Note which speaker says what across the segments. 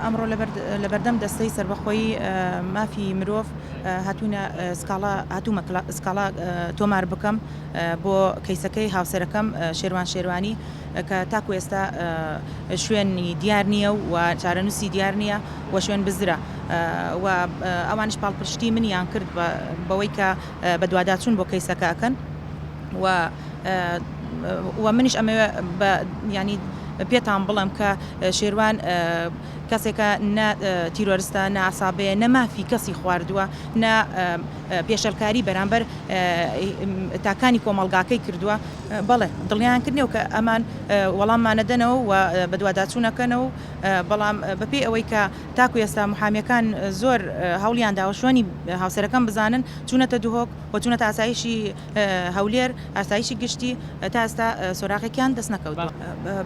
Speaker 1: ئەمڕۆ لەبەردەم دەستەی سەربەخۆی مافی مرۆڤ هاتوومە سکاڵا تۆمار بکەم بۆ کەیسەکەی هاوسەرەکەم شێروان شێروانی کە تاکو ئێستا شوێنی دیار نییە و چارەنووسی دیار نییە و شوێن بزرە و ئەوانش پاڵپشتی منیان کرد بەوەی کە بەدواداچون بۆ کەیسەکە ئەکەن و وە منیش ئەمەوێ بە ینی پێتان بڵم کە شێروان کەسێکە نە تیرۆرستە ناسابەیە نەمافی کەسی خواردووە نە پێشەلکاری بەرامبەر تاکانی کۆمەلگاکەی کردووە بەڵێ دڵیان کردنەوە کە ئەمان وەڵاممانەدەنەوە و بەدواداچوونەکەنەوە بەڵام بەپی ئەوەی کە تاکو ئێستا محامیەکان زۆر هەوڵیان داوە شوێنی هاوسەرەکەم بزانن، چوونەتە دهۆک و چوونەتە ئاسایشی هەولێر، ئاسایشی گشتی، تا ئێستا سۆراغێکیان دەست نەکەوتووە.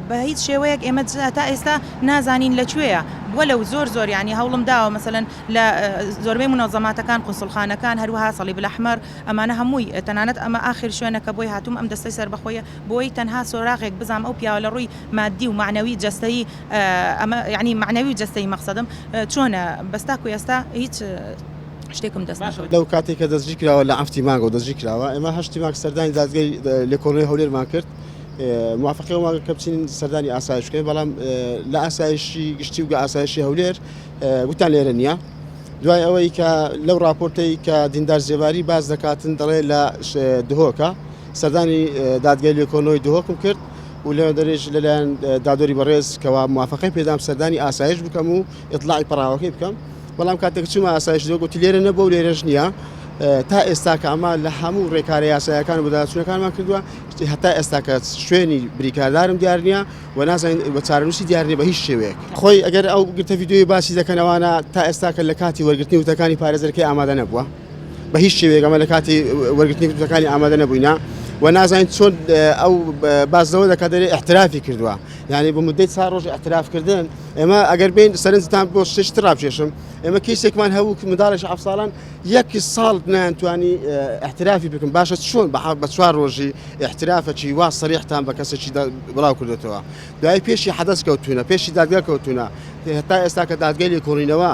Speaker 1: بە هیچ شێوەیەک ئێمە تا ئێستا نازانین لە کوێیە، وەلە و زۆر زۆر یانی هەوڵم داوە مەسەلەن لە زۆربەی مونەزەماتەکان، قونسوڵخانەکان، هەروەها صلیب الاحمر، ئەمانە هەمووی، تەنانەت ئەمە ئاخر شوێنە کە بۆی هاتووم، ئەم دەستەی سەربەخۆیە، بۆی تەنها سۆراغێک بزانم ئەو پیاوە لە ڕووی ماددی و مەعنەوی جەستەیی ئەمە یەعنی مەعنەوی و جەستەیی مەقسەدم چۆنە؟ بەس تاکو ئێستا هیچ شتێکم دەست نەکەوت. لەو کاتەی کە دەستگیر کراوە
Speaker 2: لە عەفتی مانگەوە دەستگیر کراوە ئێمە هەشتی مانگ سەردانی دادگەی لێکۆڵینەوەی هەولێرمان کرد موافقەی ئەومان کرد کە بچین سەردانی ئاسایش بکەین بەڵام لە ئاسایشی گشتی و گە ئاسایشی هەولێر گوتان لێرە نییە دوای ئەوەی کە لەو راپۆرتەی کە دیندار زێباری باز دەکاتن دەڵێ لە دهۆکە سەردانی دادگەی لێکۆنەوەی دهۆکم کرد و لە دەرێش لە لایەن دادوەری بەڕێز کەوا موافقەی پێدام سەردانی ئاسایش بکەم و ئیطلاعی پەڕاوەکەی بکەم بەڵام کاتێک چوومە ئاسایش دۆ گوتی لێرە نەبوو و لێرەش نییە تا ئێستا کە ئەمە لە هەموو ڕێکارە یاسایەکان و بەداچوونەکانمان کردووە شتی هەتا ئێستا کە شوێنی بریکاردارم دیار نییە و نازانین بە چارەنووسی دیار نییە بە هیچ شێوەیەک خۆی ئەگەر ئەو گرتە ویدیۆی باسی دەکەن ئەوانە تا ئێستا کە لە کاتی وەرگرتنی وتەکانی پارێزەرەکەی ئامادە نەبووە بە هیچ شێوەیەک ئەمە لە کاتی وەرگرتنی گرتوەکانی ئامادە نەبووینە و نازانین چۆن ئەو باز لەوە دەکات دەێ احترافی کردووە یعنی بۆ مدەی چا ڕۆژ احترافکردن ئێمە ئەگەر بین سەرنجتان بۆ شت ڕاپێشم ئێمە کەیسێکمان هەوو منداڵێک ح ساڵان یەکی ساڵ نانتوانی احترافی بکەم باشە چۆن بە بە چوار ڕۆژی احترافەکی وا سەریحتان بە کەسێکی بڵاو کردێتەوە دوای پێشی حەدەست کەوتونە پێشی دادگا کەوتونە هێتا ئێستا کە دادگەلی کۆڵینەوە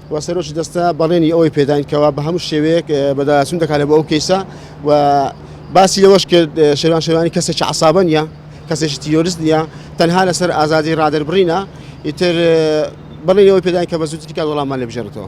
Speaker 2: و سەرۆکی دەستە بەڵێنی ئەوەی پێداین کەوا بە هەموو شێوەیەک بەداچوون دەکات لە بۆ ئەو کەیسە و باسی لەوەش کرد شێوان شێوانی کەسێکی عسابە نیە کەسێکی تیۆرست نیە تەنها لەسەر ئازادی ڕادەربڕینە ئیتر بەڵێنەوەی پێداین کە بە زووترین کات وەڵاممان لێ بژێرێتەوە.